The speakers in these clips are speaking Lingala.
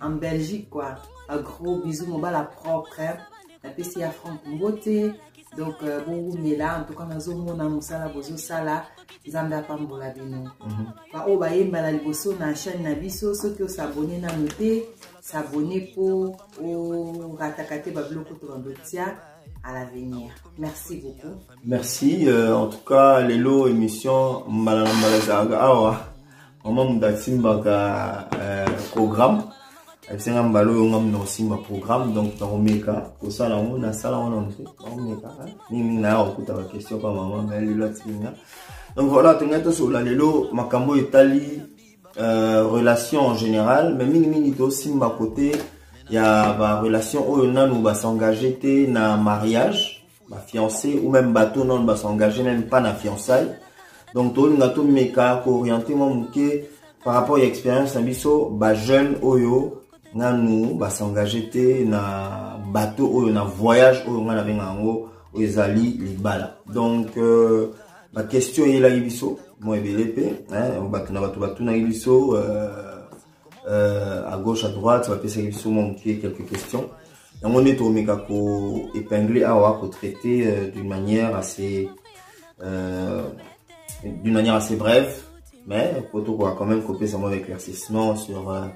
en belgique quoi a gros bisous mobala propre napesi ya frank mbote donc euh, bowumela en tout cas nazomona mosala bozosala nzambe apambola bino mhm. baoyo bayemba na liboso na chaîne na biso soki osabone nano te sabone mpo orataka te babiloko to babotia à l'avenir. Merci beaucoup. Merci. Euh, en tout cas, Lelo, émission Mbalala Mbalala Awa. mama moto asimbaka euh, programme ayebisi nga mbala oyo nga moto akosimba programme donc nakomeka kosala yango nasala yango na moto nakomeka mingimingi naya kokuta baquestion pa mama me lelo atiki nga donc voilà tongai tosolola lelo makambo oyo etali euh, relation en général mais mingimingi tosimba kote ya barelation oyo nanu basengage te na mariage ba fiancé ou même bato nano ba s'engage même pas na fiançaille donc tolinga tomeka kooriente mwa moke par rapport ya expérience na biso bajeune oyo nanu basengage te na bato oyo na voyage oyo ngai nabenga yango oyo ezali libala donc euh, baquestion eyelaki biso mwa ebele mpe bato na bato batunaki biso euh, euh, à gauche à droite bapesaki biso mwa moke quelques questions yango nde tokomeka koépingle awa kotraite euh, d'une manière assez euh, d'une manière assez brève mais po tokoka quand même kopesa mwa éclaircissement sur euh,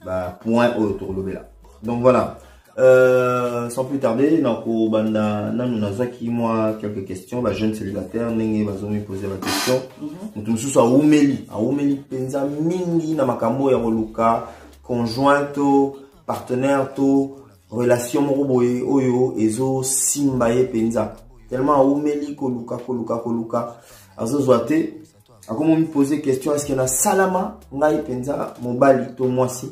bapoint oyo tokolobela donc voilà Euh, sans plus tarder nakobanda nanu nazwaki mwa quelques questions ba jeune célibataire ndenge bazomi pose ba question mhm. moto mosusu awumeli awumeli mpenza mingi na makambo ya koluka conjoint to partenaire to relation moko boye oyo ezosimba ye mpenza tellement awumeli koluka koluka koluka azozwa te akomi omipose question eske nasalama ngai mpenza mobali to mwasi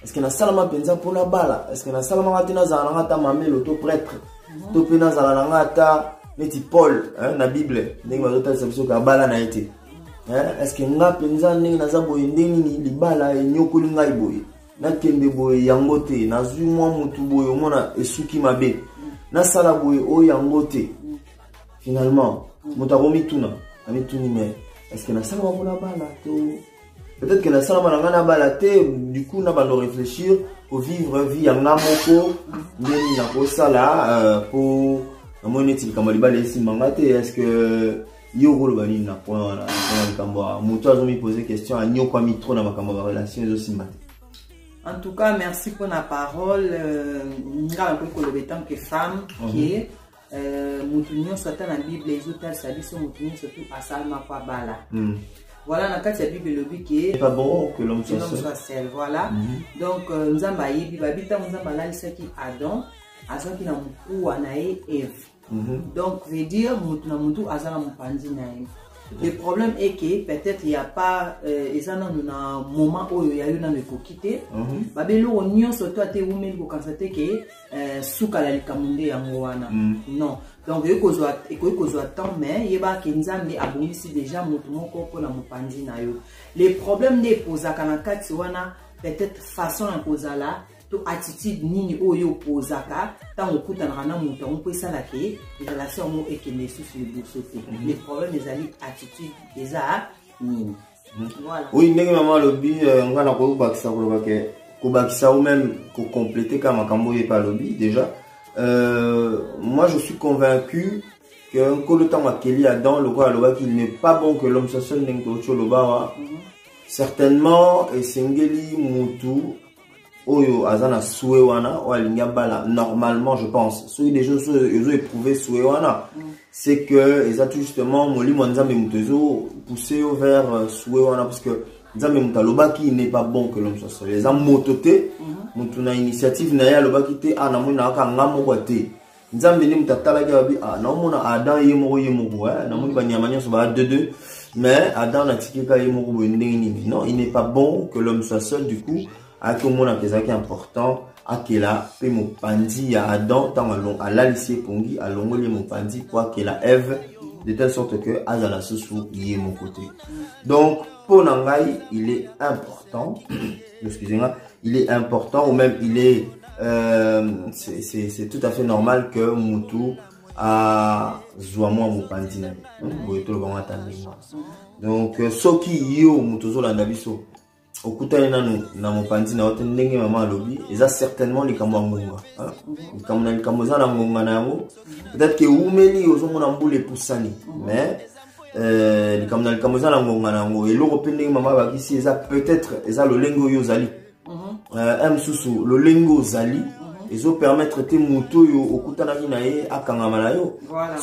eske nasalama mpenza mpo nabala eske nasalama ngai te nazala na ngai ata mamelo to pretre mhm. to mpe nazala na ngai ata neti paul na bible ndenge bazotalisa biso ke abala na ye te eske ngai mpenza ndenge naza boye ndenge nini libala enyokoli ngai boye nakende boye yango te nazwi mwa motu boye omona esuki mabe nasala boye oyo yango te finalement moto akomituna amituni mais estce nasalama mpo nabala to peut-être que nasalama na ngai nabala te du coup na bando réfléchir kovivre vie ya ngai moko ndeni nakosala euh, mpo namoni neti likambo ya libala esimba ngai te est ce que yo okoloba nini na point wana mpona likambo ya moto azomipose question anyokwami trop na makambo ya barelation ezosimba te en tout cas merci mpona parole euh, ngai nakoki koloba etant que femme ke mhm. Euh, moto nyonso ata na bible ezotalisa biso moto nyonso tu asalamako abala mm. voilà na kati ya bible elobi ke sel voilà mm -hmm. donc euh, nzambe ayebi babi ntango nzambe alalisaki adam azwaki na mokuwa na ye eve mm -hmm. donc veut dire moto na motu aza na mopanzi na ye le problème est que peut-être ya pas euh, eza nanu na moment oyo ya yo nanu ekoki te mhm. babe eloko nyonso to ata ewumeli kokanisa te ke Eh, suka na likambo nde yango wana mm. non donc ekoki kozwa temps mais yebaka ke nzambe abongisi déjà moto moko mpo na mopanzi na yo le problème nde epozaka na kati wana peut-être façon ya kozala to attitude nini oyo yo opozaka ntango okutanaka na moto yango mpo esala ke relation yango ekende lisusu liboso te mm-hmm. le problème ezali attitude eza nini oui ndenge mama alobi euh, nga na kobakisa koloba ke kobakisa ou même kocomplete ka makambo oyo epe alobi déjà euh, moi je suis convaincu que nkolo ntango akeli adam lokola alobaki il n'est pas bon que l'homme soit seul ndenge tokoki oloba wa mhm. certainement esengeli mutu oyo aza na sue wana oyo alingi abala normalement je pense soki deja ezo éprouve sue wana mm. c'est que eza tout justement molimo ya nzambe moto ezo pousse yo vers euh, sue wana parce que nzambe moto alobaki n'est pas bon que l'homme soit seul eza moto te moto mm-hmm. na initiative na ye alobaki te a ah, namoni nayaka nga moko te nzambe nde moto atalaki abi ah, naomona adam ye moko ye moko eh? namoni banyama nyonso baa de deux mais adam natikika ye moko boye ndenge nini non il n'est pas bon que l'homme soit seul du coup ayaki omonaka ezalaki important akela mpe mopanzi ya adam ntango alalisi ye pongi alongoli ye mopanzi mpo akela eve de telle sorte que azala susu ye moko te donc mpo na ngai il est important excusez nga il est important ou même il est euh, c'est tout à fait normal que mutu azwa mwa mopanzi na ye boye toloba ngo ata ndenge wana donc euh, soki yo moto ozolanda biso okutani nanu na mopanzi na yo te ndenge mama alobi eza certainement likambo ya ngonga likambo na likambo eza na ngonga na yango peut-être ke eumeli ozomona mbula epusani mais Eh, likambo na likambo eza na ngonga na yango eloko mpe ndenge mama abakisi eza peut-être eza lolenge oyo ozali mhm. eh, ya mosusu lolenge ozali mhm. ezopermettre te moto oyo okutanaki na ye akangama na yo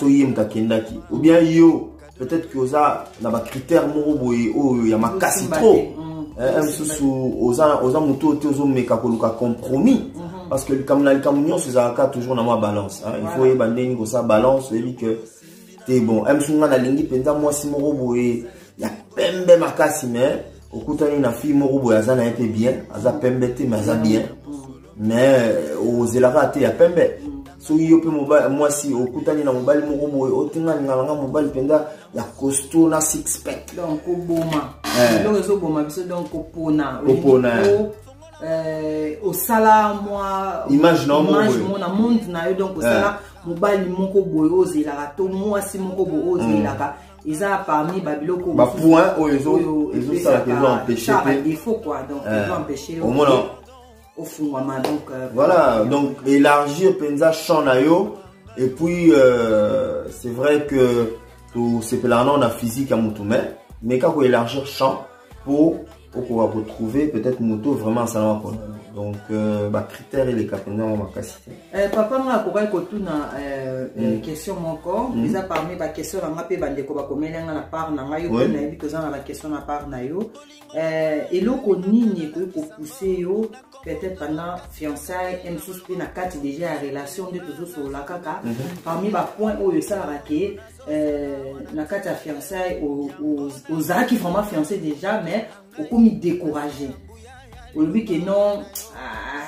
so ye moto akendaki obien yo peut-être ke oza na bacritère moko boye oyo ya makasi trop mhm. eh, ya mosusu oza moto oyo te ozomeka koluka compromis parce que likambo na likambo nyonso ezalaka toujours na mwa balance il faut oyeba ndenge kosala balance oyebi que te bon emsu nga nalingi mpenza mwasi moko boye ya pembe makasi mais okutani na fille moko boye aza na ye mpe bien aza pembe te mais aza bien mais ozelaka te ya pembe soki yo mpe mwasi okutani na mobali moko boye otinga lingala nga mobali mpenza ya costo na six pack donc koboma eh. eloko ezoboma biso donc kopona kopona euh, osala mwa image na mona monde na yo donc osala eh. mobali moko boye ozelaka to mwasi moko boye ozelaka mm. eza parmi babiloko bapoint oyo ezosalaka ezoempêche te defo quoi donc eh, ezoempêche omona ofungwama donc euh, voilà donc élargir mpenza champ na yo et puis euh, c'est vrai que tosepelaka nao na physique ya motu mai mais kaka koélargir champ mpo okoka ko trouver peut-être moto vraiment asalama pona donc euh, ba critère eleka mpenza ngo makasi te eh, papa nga akokaki kotuna euh, euh, mm. question moko mm. eza parmi ba question na nga mpe bandeko bakomeli nga na part na ngai oyo nayebi toza na ba question na part na yo eloko nini ekoki kopousse yo peut-être pendant fiançaille e mosusu mpe na kati déjà ya relation nde tozosolola kaka mhm. parmi ba point oyo esalaka ke Euh, na kati ya fiançai ozalaki vraiment fiancé déjà mais okomi découragé olobi ke non ah,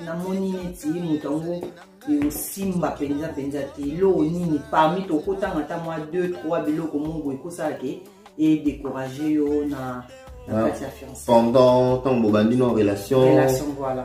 namoni neti moto yango eosimba mpenza mpenza te eloko nini parmi tokotanga ata mwa 2 3 biloko mongo ekosala ke edécourage yo na, na kati ya fiancé pendant ntango bobandi na relation, relation voilà.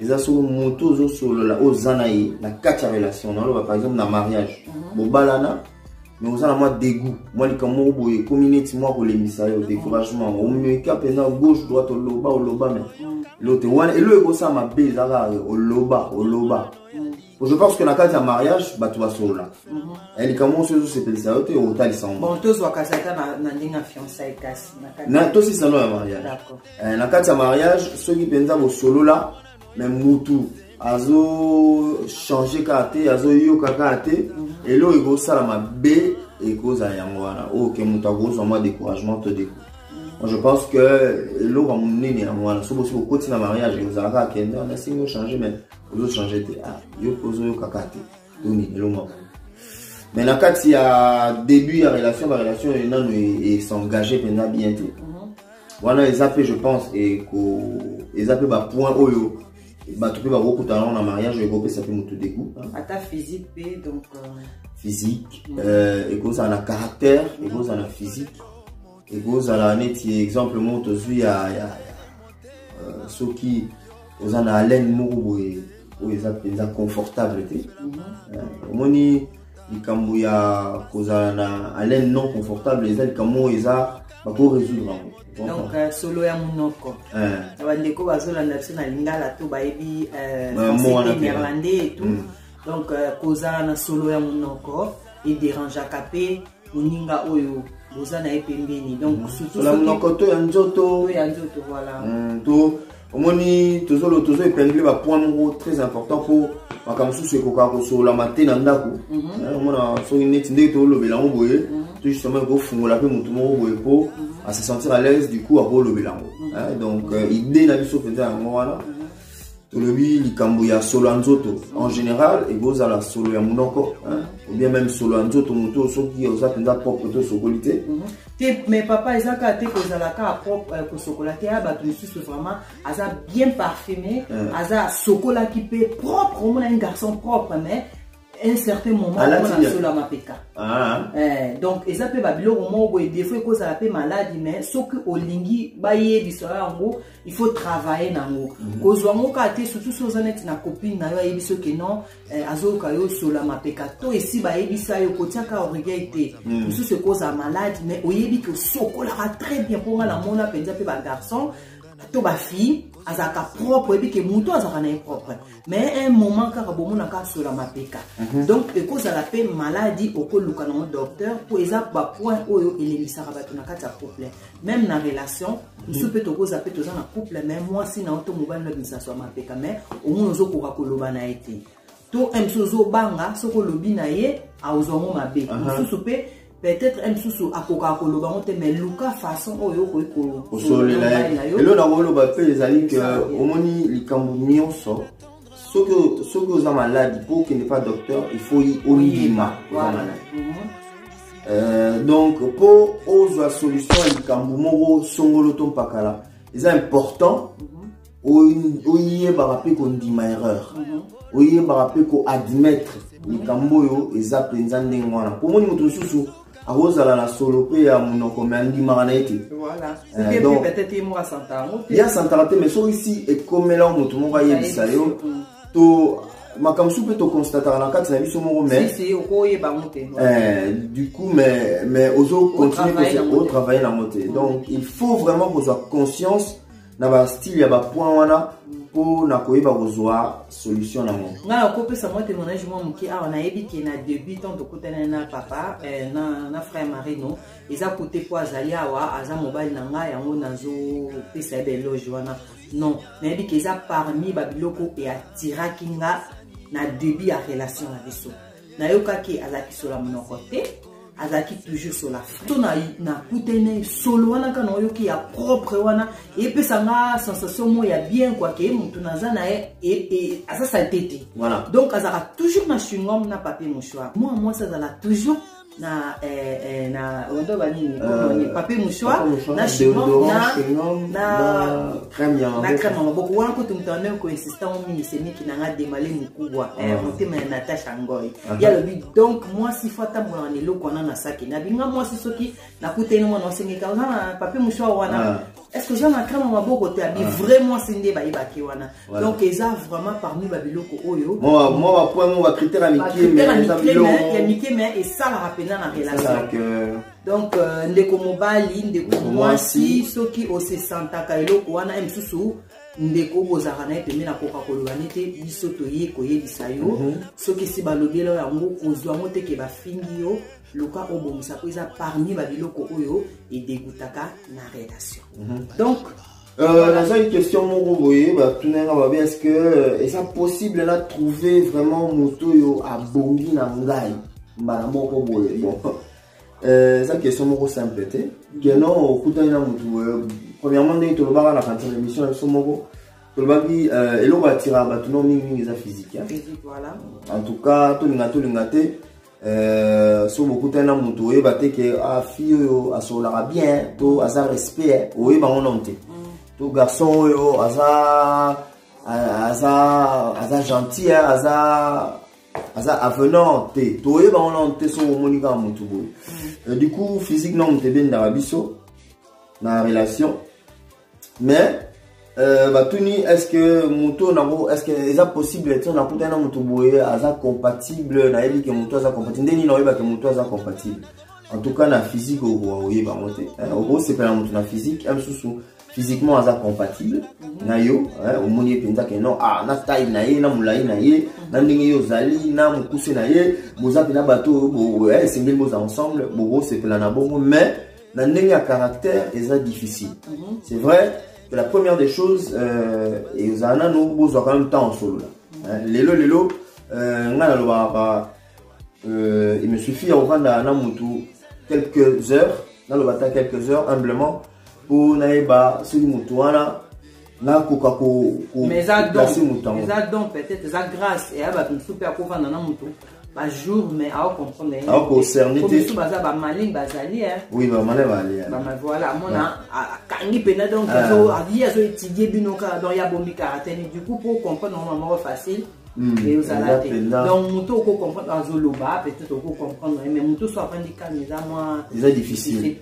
eza solo moto ozosolola oyo oza na ye na kati ya relation naloba par exemple na mariage mhm. bobalana mais oza na mwa degout mwa likambo moko boye ekomi neti mwa kolembisa yo découragement mhm. omeka mpenza gauche droite oloba oloba me mhm. lote wana elo ekosala mabe eza kaka oloba oloba je pense que na kati ya mariage bato basolola eh, likambo nyonso ezosepelisa yo te otalisa ngo tosisano ya mariage eh, na kati ya mariage soki mpenza bosolola me mutu azochange kaka te azoyoka kaka te mhm. eloko ekosala mabe ekozala yango wana oyo oh, ke moto akozwa mwa découragement to deko mhm. je pense que eloko ya monene yango wana soki bosi kokoti na mariage ozalaka akende wana esingi ochange mais ozochange te ah, yo mpe ozoyoka kaka te toni elongwaka mais na kati ya début ya relation barelation oyo nano esengage e mpenza bien te mhm. wana eza mpe je pense eza mpe bapoint oyo bato mpe bakokutana yango na mariage oyo ekopesa mpe motu degout ata physique mpe donc euh, physique mhm. euh, ekozala na caractère ekozala na physique ekozala neti exemple moko tozwi ya, ya, ya uh, soki oza na haleine moko boye oyo eza mpenza confortable te mhm. eh, omoni mm -hmm. uh, likambo ya kozala na haleine non confortable eza likambo oyo eza bakoresoudre yango donc euh, solo ya monoko eh. na bandeko bazolanda biso na lingala to bayebi euh, français néerlandais et tout mm. donc euh, kozala na solo ya monoko ederangeaka mpe moninga oyo boza na ye pembeni donc mm. surtoutna monoko to ya nzoto to ya nzoto voilà mm, to omoni tozo epingile bapoint moko très important mpo makambo mosusu ekokaka kosololama te na ndako mhm. eh, omona soki neti ndenge tolobela yango boye mhm. to justement ekofungola mpe motu moko boye mpo mhm. ase sentir à l'aise du coup akolobela yango eh, donc euh, idée na biso mpenza yango wana tolobi likambo ya solo ya nzoto en général ekozala solo ya monoko ou bien même solo ya nzoto moto soki oza mpenza propre to osokoli te mhm. te mais papa eza kaka te kozala kaka propre euh, kosokola te ya bato mosusu vraiment aza bien parfume aza asokolaki mpe propre omona un garçon propre mais un certain moment mpona solo ya mapeka ah. eh, donc eza mpe babiloko moko boye defo ekozala mpe maladi mais soki olingi bayebisa yo yango il faut travailler na yango mhm. kozwa yango kaka te surtout so oza neti na copine na yo ayebisi yo ke non eh, azoyoka yo solo ya mapeka to esi bayebisa yo kotiaka orgueil te mhm. mosusu ekozala maladi mais oyebi ke osokolaka très bien mpo nga namona mpenza mpe bagarçon to bafille azalaka propre oyebi ke moto azalaka na ye propre mais un moment kaka bomonaka asola mapeka mhm. donc ekozala mpe maladi okoluka nango docteur mpo eza bapoint oyo elembisaka bato na kati ya couple même na relation mosusu mhm. mpe tokoza mpe toza na couple mais mwasi na yo to mobali na bisaso ya mapeka mais omoni ozokoka koloba na ye te to mosusu ozobanga soki olobi na ye aozwango mabe mosusu mpe peut-être ye mosusu akokaka koloba yango te mais luka façon oyo okoki kosolela ye elo na koloba mpe ezali ke omoni likambo nyonso soki oza maladi mpo okende pa docteur il faut oyima oza maladi mhm. euh, donc mpo ozwa solution ya likambo moko songolo to mpakala eza important mhm. oyebaka mpe kondima erreur mhm. oyebaka mpe koadmettre likambo oyo eza mpenza ndenge wana pomoni moto mosusu akozala na solo mpe ya monoko me andimaka na ye te ye asantaka te mai soki si ekomela moto moko ayebisa yo mm. to makambo mosusu mpe toconstataka na kati na biso moko mais eh, du coup mais, mais ozo continue otravaille nango te donc il faut vraiment kozwa conscience na ba style ya ba point wana mpo na koyeba kozwa solution na yango ngai nakopesa mwa témoignage mwa moke awa nayebi ke na début temps tokutani na papa eh, na, na frère marino eza kote mpo azali awa aza mobali na ngai yango nazopesa ye beloge wana non nayebi ke eza parmi babiloko eatiraki nga na début ya relation na biso nayokaki azalaki sola monoko te azalaki toujours sola to nakute na solo wana kaka naoyoki ya propre wana epesa nga sensation moko ya bien kua ke motu naza na ye e, e, aza salite te voilà. donc azalaka toujours na chingom na papier mouchoir mwana mwasi azala toujours na eh, eh, na ondo banini euh, papier mouchoir na chingom na na crème ya maboko wana kutu moto ameme koinsista ngo mingi semiki na nga demale mokubwa eh, ah. motema ya natasha ngoi ah. ye alobi donc mwasi fo atambolaka na eloko wana na saki nabinga mwasi soki nakutani mwana wasengeka oza na pape mouchoir wana ah. est ce que oza na crème ya maboko te abi vrai mwasi nde bayebaki wana donc eza vraiment parmi babiloko oyo mwa bapoint mo bacritère ya mike ya mike me esalaka mpenza na relation donc euh, ndeko mobali ndeko mwasi soki osesantaka eloko wana ye mosusu ndeko bozalaka na ye pembe nakoka koloba ne te biso toye koyebisa yo mhm. soki esi balobela yo yango kozwa yango te ke bafingi yo luka obongisa mpo eza parmi babiloko oyo edegutaka na relation mhm. donc Euh, naza une question moko boye batuna nga babe est ce que euh, eza possible na trouver vraiment moto oyo abongi na ngai mbala moko boye bon Euh, eza question moko simple te keno okutani na motu euh, premièrement ndenge tolobaka na kanisa na émission na biso moko tolobaki euh, eloko atiraka bato no mingimingi eza physique en tout cas tolinga tolinga te soki bokutani na motu oyeba te ke ah, fille oyo asololaka bien to aza respect oyeba ngo nano te mm. to garçon oyo aza aza aza gentil aza aza avenant te toyeba wana te soki omoni kaka motu boye mm. euh, du coup physique na moto ebendaka biso na relation mais euh, batuni est ce que motu oyo nango est ce que eza possible ti nakutani na motu boye aza compatible nayebi ke motu aza compatible nde nini oyebake motu aza compatible en tout cas na physique okoyeba yango te okosepela motu na physique ya mosusu physiquement aza compatible mhm. na yo omoni ye mpenza ke non ah, na taille na ye na molai na ye mhm. na ndenge ye ozali na mokuse na ye boza mpe na bato oyo eh, esengeli boza ensemble bokosepela na bongo mais na ndenge ya caractère eza difficile mhm. c'est vrai que la première des choses euh, ezala nano bozwa quand même temps osolola lelo lelo euh, ngai nalobaka euh, il me suffit ya kofanda na mutu quelques heures naloba ata quelques heures humblement mpo nayeba soki mutu wana nakoka koplase mutu yango eza don peut-être eza grâce eya bato mosusu mpe akofanda na mutu bajour mais aocomprendre aoconcerne te biso baza bamaling bazali oui bamale bali voilà mona akangi mpenza donc ye azoétudie bino kaka donc ya bomi kaka te du coup mpo comprendre yango mamoko facile Hmm. mais ozala te donc moto oko comprendre azoloba peut-être oko comprendre mais moto so avandi kani eza mwa eza difficile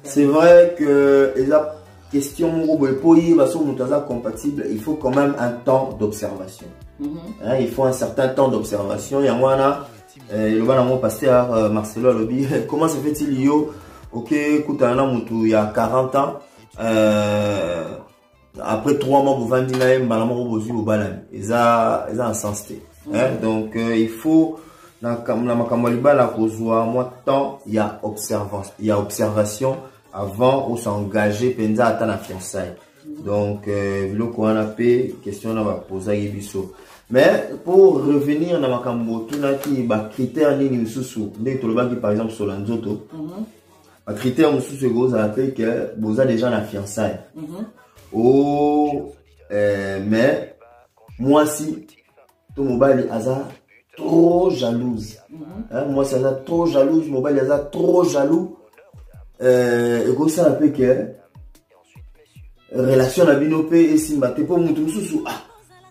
c'est vrai que eza question moko boye mpo oyeba soki moto aza compatible il faut quand même un temps d'observation mm -hmm. hein, il faut un certain temps d'observation yango wana eh, eloba nango pasteur euh, marcelo alobi comment se fait-il yo okekutana na motu ya 40 ans euh, après 3 mois bovandi na ye mbala moko bozwi bobalani eza eza na sens te mm. donc euh, il faut na makambo ya libala kozwa mwa temps ya observance ya observation avant osengage mpenza ata na fiançaille donc euh, biloko wana mpe question wana bapozaki biso mais pour revenir na makambo otunaki bacritère nini mosusu ndenge tolobaki par exemple sola nzoto mm -hmm. ba critère mosusu ekozala mpe ke boza déjà na fiançaille mm -hmm. o oh, eh, mais mwasi to mobali aza trop jalouse mm -hmm. eh, mwasi aza trop jalouse mobali aza trop jaloux eh, ekosala mpe ke relation na bino mpe esimba te mpo motu mosusu ah,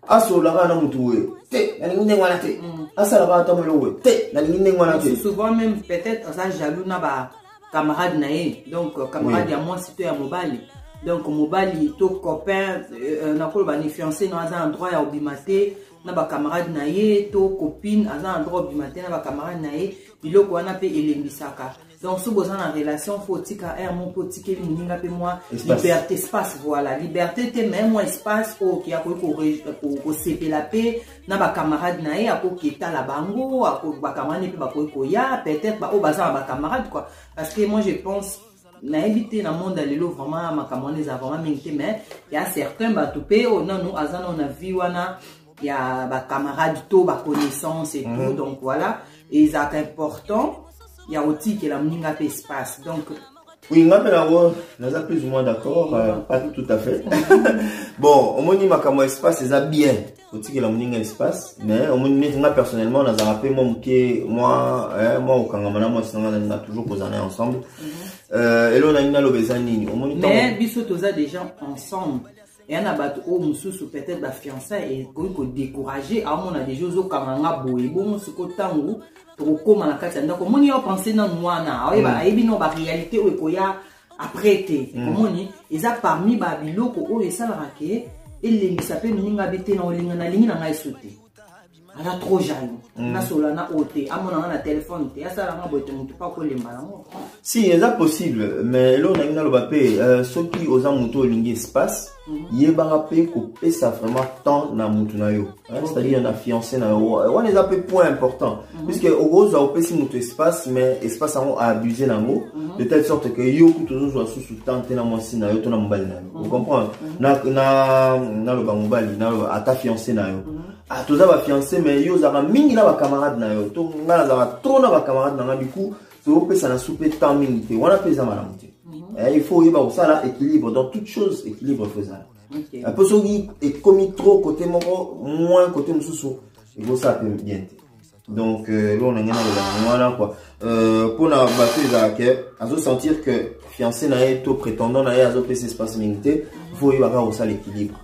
asolola kaka na motu oyo te nalingi ndenge wana te mm. asala kaka ata molongo te nalingi ndenge wana te souvent même peut-être aza jaloux na ba camarade na ye donc euh, camarade ya mwasi to ya mobali donc mobali to copain euh, euh, nakoloba ni fiancé no aza na droit ya obima te na bacamarade na ye to copine aza na droit obima te na bacamarade na ye biloko wana mpe elembisaka donc soki boza na relation fo otika aire moko mpe otikeli moninga mpe mwa liberté espace voilà liberté te mai mwa espace oyo oke akoki kosepela mpe na bacamarade na ye akoki etala bango bacamarade mpe bakoki koya peut-être baoyo baza na bacamarade quoi parce que moi je pense nayebi te na monde ya lelo vraiment makambo wana eza vraiment mingi te mais ya certain bato mpe oyo nanu aza nano na vie wana ya ba camarade to ba connaissance et tout mm. donc voilà ezalaka important ya kotikela moninga mpe espace donc oui nga mpe nango naza plus ou moins d'accord euh, pas tout à fait bon omoni makambo ya espace eza bien kotikela moninga espace mais omoni neti nga personnellement nazalaka mpe mwa moke mwa eh, mwa kokangama na mwasi nanga nalinga toujours kozala na ensemble mhm. euh, eloo nalingi naloba eza nini omoni mais biso toza déjà ensemble eya na bato oyo mosusu peut-être bafiançai ekoki kodecourage aomona deja ozokanga nga boye bongo siko ntango tokokóma na kati ya ndako omoni yo pense nanu wana aoyeba mm. ayebi no baréalité oyo ekoya après te mm. omoni eza parmi babiloko oyo esalaka ke elembisa mpe moninga bi te na olinga nalingi na ngai so te aza trop jaloux mm. nasola na oyo te amona nga na telefone te asala nga boye te motu mpe akolemba yango si eza possible mais eloko nangi naloba mpe euh, soki oza motu olingi espace mhm. yebaka mpe kopesa vraiment temps na motu na yo c'est-à-dire na fiancé na yo wana eza mpe point important mhm. puisque okozwa opesi motu espace mais espace yango aabuse na yango mhm. de telle sorte que yo kutu ozozwa susu temps te na mwasi na yo to na mobali na yo ocomprendre naloba mobali naloba ata fiancé na yo ah toza ba fiancé mais yo ozalaka mingi na ba camarade na yo to nga nazalaka trop na ba camarade na nga du coup tokopesana su mpe temps mingi te wana mpe eza malamu te mhm. eh, il faut oyeba kosala équilibre dans toute chose équilibre faut ezala mpo soki ekomi trop côté moko moins côté mosusu ekosala mpe bien te donc euh, eloko na ngai naloba yango wana kua euh, mpo na bato ezala ke azosentir que fiancé na ye to prétendant na ye azopesa espace mingi te fo oyeba kaka kosala équilibre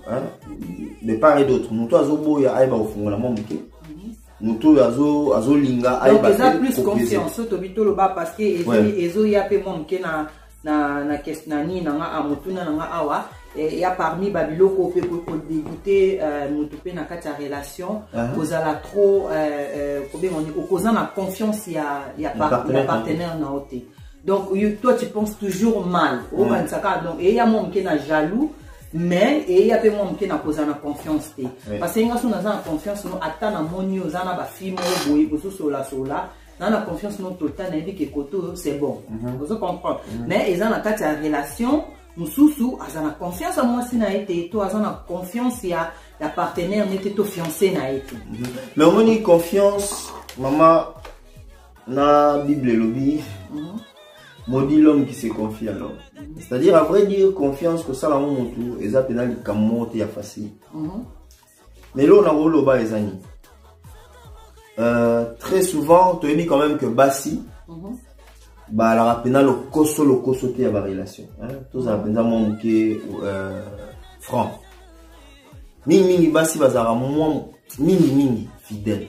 de part et d'autre moto azoboya ayeba kofungola mwa moke moto oyo azolinga ayeba eza plus confiance oyo tobi toloba parce que ezoya mpe mwa moke na na na kes na nini na nga a motuna na nga awa eh, ya parmi ba biloko pe ko ko dégoûter euh, mutu pe na kati ya relation uh -huh. kozala trop euh, euh, kobenga ni okoza na confiance ya ya, par, partenaire, ya partenaire na ote donc you, toi tu penses toujours mal okanisa kaka donc eya mwa moke na jaloux mais eya mpe mwa moke na kozala na confiance te parce que nga so naza na confiance no ata namoni oza na bafilme oyo boye bozosolasola na na confiance no total nayebi ke kote oyo c'est bon mhm. ozo comprendre mhm. mais eza na kati ya relation mosusu aza na confiance ya mwasi na ye te to aza na confiance ya ya partenaire ne te to fiance na ye te mhm. mais omoni confiance mama na bible elobi maudit l'homme qui se confie à l'homme c'est à dire à vrai dire confiance kosala ngo motu eza mpena likambo moko te ya facile mais eloko na koloba eza nini euh, très souvent toyebi quand même que basi mm -hmm. balaka mpena lokoso lokoso te ya barelation tozala mpenza mwa moke euh, franc mingimingi basi bazalaka mwa mingimingi fidèle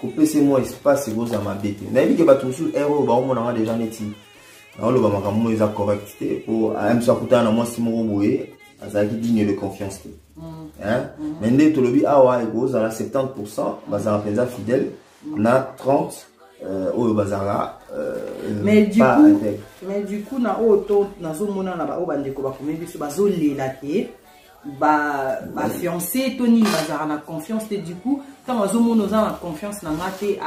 kopese mwa espace ekozala mabe te nayebi ke bato mosusu ere oyo baomonanga deja neti naoloba makambo moko eza correct te mpo ayambiso akutana na mwasi moko boye azalaki digne de confiance te mais nde tolobi awa ekozala 70 pourcent bazala mpenza fidèle na 30 euh, oyo bazala euh, mais du coup mais du coup na oyo to nazomona na baoyo bandeko bakomi biso bazolela ke ba ba fiancé to nini bazalaka na confiance te du coup ntango azomona oza na confiance na nga te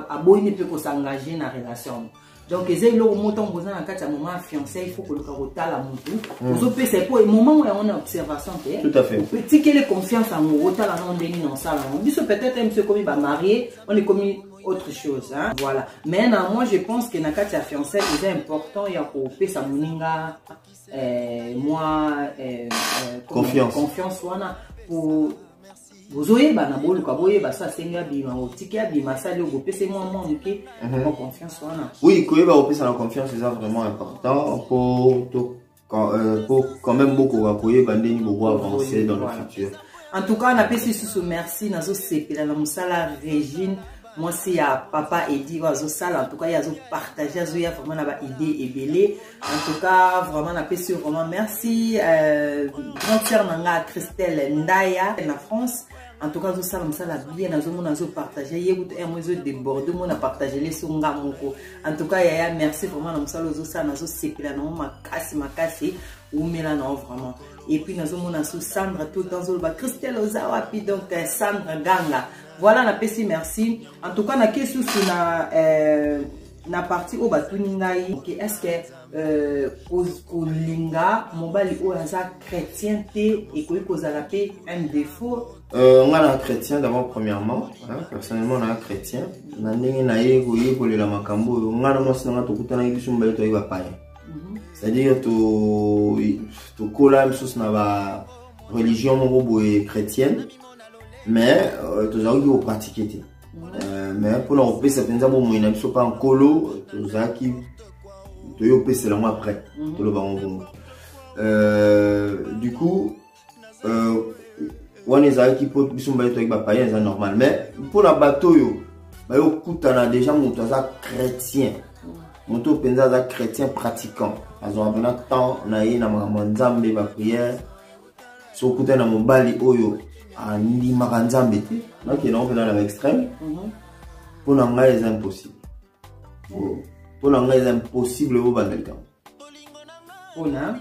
aboyi nde mpe kosengage na relation donc eza eloko mo ntango boza na kati ya moment ya fiancé il faut koluka kotala motu hmm. ozopesa mpo moment yango na observation te otikele confiance yango otala nango ndenge na osala yango biso peut-être ye mosu ekomi bamarie on ekomi autre chose hein? voilà mais na moi je pense que na kati ya fiancé eza important ya kopesa moninga eh, mwa eh, eh, confiance. confiance wana po bozoyebana boluka boyeba so asengi abima otiki abima asali oyo bopesa mwa mwa moke mhm. mwa confiance wana oui koyeba kopesana confiance eza vraiment important po to quand, euh, po quand même bokoka koyeba ndenge bobo avancer dans le futur en tout cas napesi lisusu merci nazosepela na mosala regine mwasi ya papa edi oyo azosala en tout cas ye azopartage azoya vraiment na baide ebele en tout cas vraiment napesi yo vraiment merci euh, grande sœur na nga christelle ndaya na france en tout cas azosala mosala bien nazomona azopartage ye kutu un mo ezodeborde mona partagele so nga moko en tout cas yaya merci vraiment na mosala ozosala nazosepela nango makasi makasi wumela nango vraiment epuis nazomona so sandra tout le temps ozoloba christelle oza wapi donc euh, sandra ganga Voilà na pesi merci. En tout cas na ke susu na euh, na partie oyo batuni ngai ke est-ce que euh, kolinga mobali oyo aza chrétien te ekoki kozala mpe un défaut euh, nga na chrétien d'abord premièrement hein, personnellement na chrétien na ndenge na ye koyekolela makambo oyo nga na mwasi na nga tokutanaki biso mobali toyaki bapaya mhm. c'est-à-dire tokola to misusu na ba religion moko boye chrétienne mais euh, tozalaki kopratike te euh, mais mpona kopesa mpenza bomoi na biso mpa nkolo tozalaki toye kopesela yango après mhm. toloba yango bongo euh, du coup wana ezalaki mpo biso mibale toyaki bapayen eza normal mais mpo na bato oyo baye kokutana déjà moto aza chrétien moto oyo mpenza aza chrétien pratiquant azwaka mpena temps na ye na makambo ya nzambe baprière soki okutani na mobali oyo andimaka nzambe te nakende yango mpena na baextrême mhm. mpo na ngai eza impossible mpo na ngai eza impossible bobanda likambo mpona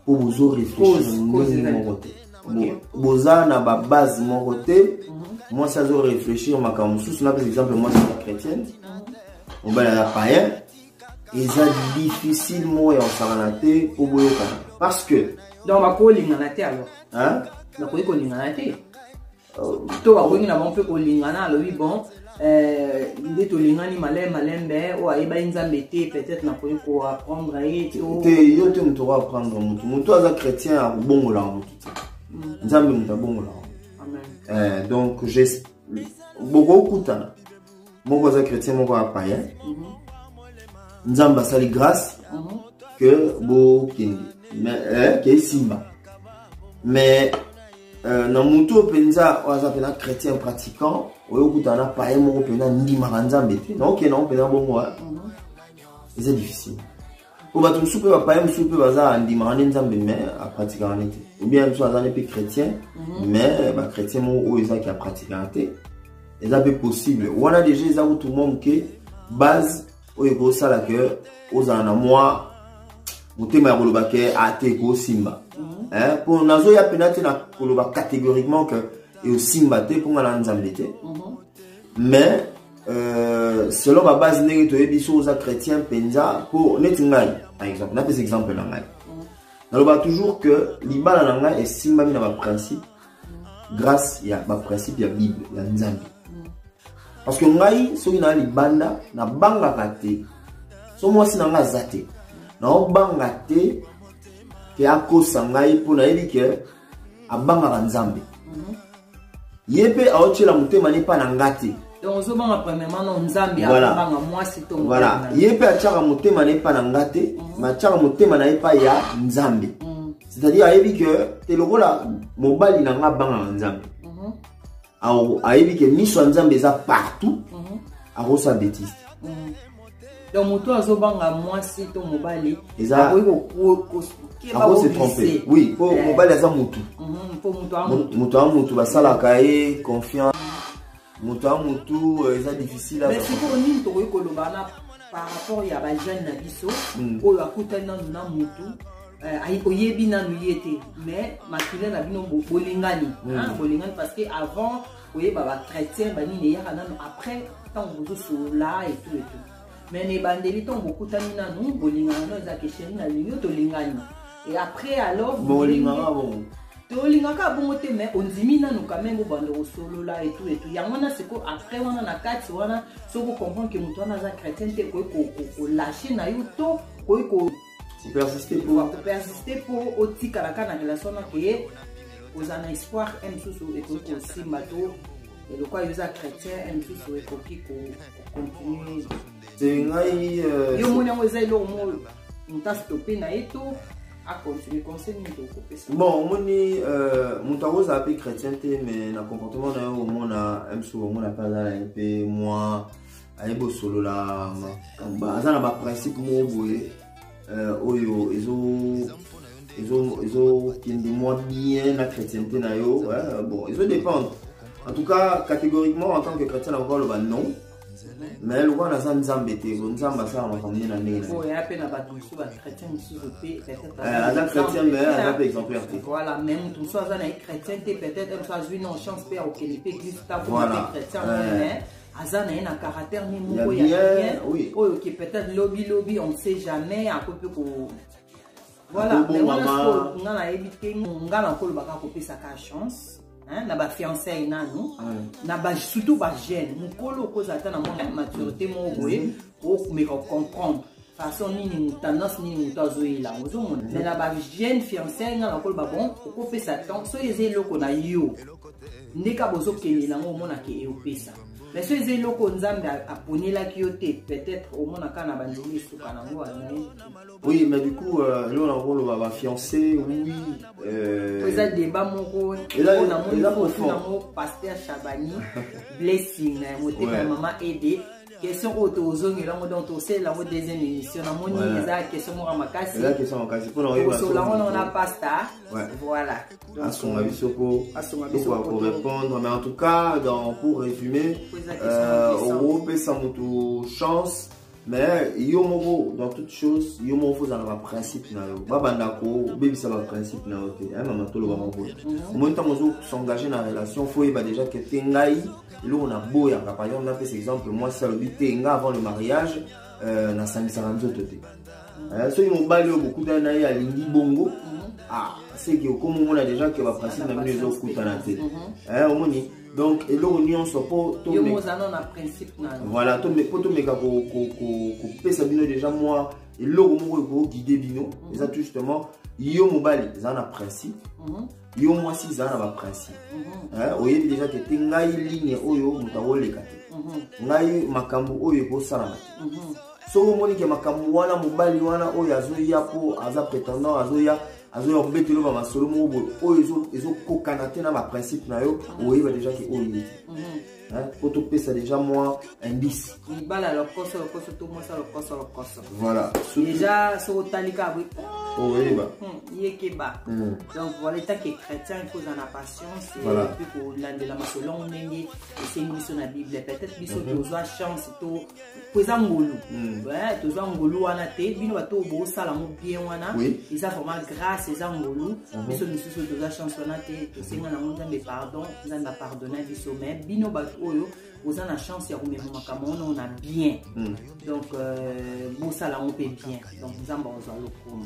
mpo bozo réfléchir moko te boza na babase moko te mhm. mwasi azo réfléchir makambo mosusu napesa exemple mwasi ya chrétienne mhm. mobali aza payen eza difficile moko ya kosangana te mpo boyokana parce que donc bakolingana te alors bakoki kolingana te euh, to bakoki na bango mpe kolingana alobi bon euh, nde tolingani malai malembe oyo ayebaki nzambe te peut-être nakoki koapprendre ye te yo te moto okoapprendre motu motu aza chrétien ya kobongolaka motu te mm. nzambe moto abongolaka eh, donc bokokutana moko aza chrétien moko aza païen mhm. nzambe asali grâce mhm. que bokende eh, ke esimba mais euh, na motu oyo mpenza oyo aza mpena chrétien pratiquant oyo okutana na païen moko mpena ndimaka nzambe te naokende yango mpena bongo eh. mhm. eza difficile po bato mosusu mpe bapaya mosusu mpe baza andimaka nde nzambe mais apratikaka nde te obien mosusu aza nde mpe chrétien mhm. mais bachrétien moko oyo ezaki apratikaka te eza mpe possible wana deja eza kutu mwa moke base oyo ekosala ke ozala na mwa motema ya koloba ke ate ah, ekosimba mpo mhm. eh, nazoya mpena te na koloba catégoriquement ke eosimba te mpo nga na nzambe te mhm. mais Euh, selon ba base ndenge toyebi so oza chrétien mpenza mpo neti ngai par exemple napesa exemple na ngai naloba toujours que libala na ngai esimbami na baprincipe grâce ya baprincipe ya bible ya nzambe parce que ngai soki naa libanda nabangaka te so mwasi na ngai aza te naobanga te ke akosa ngai mpo nayebi ke abangaka nzambe mhm. ye mpe aotyela motema ne mpa na nga te voilà ye mpe atyaka motema na ye mpa na nga te mhm. ma atyaka motema na ye mpa ya nzambe mhm. c'est-à-dire ayebi ke te lokola mobali na nga abangaka nzambe ayebi ke miso ya nzambe eza partout mhm. akosa betise mhm. donc moto oyo azobanga mwasi to mobali akose trompe oui mpo eh. mobali aza motu mhm, moto ya motu basalaka ye confiance moto ya motu euh, eza difficile sikoyo nini tokoki koloba na par rapport ya bajeune na biso hmm. oyo akutani nanu na motu Euh, ayi oyebi nanu ye te mais makila na bino bolingani mm. bolingani parce que avant oyeba bachrétien banini eyaka nanu après ntango bozosolola etout etout mais na ebandeli ntango bokutani nanu bolingana no eza kesheri na lingi tolingani et après alors bolingaka bongo tolingaka bongo te mais ondimi nanu quand même obanda kosolola etout etout yango wana siko après wana na kati wana soki okomprendre ke moto wana aza chrétien te koki kolache na yo to koki opersiste mpo otikalaka na relation na koye kozala na espoir e mosusu ekoki kosimba to eloko ayo eza chrétien e mosusu ekoki kocontinue euh, yo moni yango eza eloko mo moto astope na ye to acontinue conseil nini tokopesa bon omoni euh, moto yango ozala mpe chrétien te mais na comportement na yo omona msu omona mpe azala ye mpe moi ayebi osolola aza na baprincipe moko boye euh, oyo ezo ezokende mwa bien na chrétienté na yo bon ezo dépendre en tout cas catégoriquement en tant que chrétien nakoki aloba non mais lokola naza nzambe te ko nzambe asala makambo nde na ndenge nayeaza chrétien mais aza mpe exemplaire te voilà mais moto mosusu aza na ye chrétien te peut-être mosusu azwi non chance mpe akokende mpe église takote chrétien aza na ye na caractère ni moko ya bien oyo ke peut-être lobi lobi on ne sait jamais akoki mpe ko voilà mais wana sikoyo nga nayebi te nga nakolobaka kopesaka chance Hein, na bafiançai nanu na ba, surtout bajeune mokolo okozala ata na mwa maturité moko boye okomeka kocomprendre façon nini moto tendance nini moto azoyela yango ozomona me na bajeune fiancai nga nakoloba bon okopesa temps soki eza eloko na yo ndeka bozokende nango omonake eopesa mais soki eza eloko nzambe aponelaki yo te peut-être omonaka na bandeli esuka nango oui mais du coup euh, eloko nakoloba bafiancé oui euh, eza deba moko namonango paster chabani blessing na motema ya mama ede question oyo tozongela yango donc tosalela yango deuxième émission namoni eza question moko makasi osola yango nao na pasta voilà asunga biso po korépondre mais en tout cas donc pour résumer euh, opesa motu chance mais yo moko dans toute chose yo moko fo ozala baprincipe na yo babanda kobebisa baprincipe na yo te mama tolobaka boye omoni ntango ozo s'engage na relation fo oyeba déjà ke te ngai eloko na boyaka par exemple napesa exemple mwasi alobi te nga avant le mariage euh, nasangisaka nzoto te euh, soki mobali oyo bokutani na ye alingi bongo mhm. ah, seke okomi omona déjà ke baprincipe na bino ezokutana te mhm. eh, omoni donc eloko nyonso po voilà po tomeka kopesa bino déjà mwa eloko moko ekoguide bino mhm. eza tout justement yo mobali eza na principe yo mwasi zala na baprincipe mhm. eh, oyebi deja te te ngai ligne oyo moto akoleka te mhm. ngai makambo oyo ekosalama te mhm. soki omoni ke makambo wana mobali wana oyo azoya mpo aza prétendant azoya azoya kobetelo ba masolo moko boye oyo ezokokana te na baprincipe na yo oyeba deja ke oyo ye te Hein, po topesa déjà mwa indice libala ya lokoso lokoso to mwasi ya lokoso lokoso voilà déjà soki otali kaka boye oyeba oh, hmm, yekeba hmm. donc voilà etake chrétien ekozala na patience mpe kolandelama selon ndenge esengi biso na bible peut-être biso mhm. tozwa chance to po eza ngolu hmm. eh, toza ngolu wana te bino bato oyo bosala mo bien wana eza vraiment grâce eza ngolu mhm. biso misusu toza chance wana te tosenga nango nzambe pardon nzambe apardona biso mais bino bato oyo oza na chance ya komema makambo wana ona bien hmm. donc euh, bosala yango mpe bien donc nzambe akozwa lokumu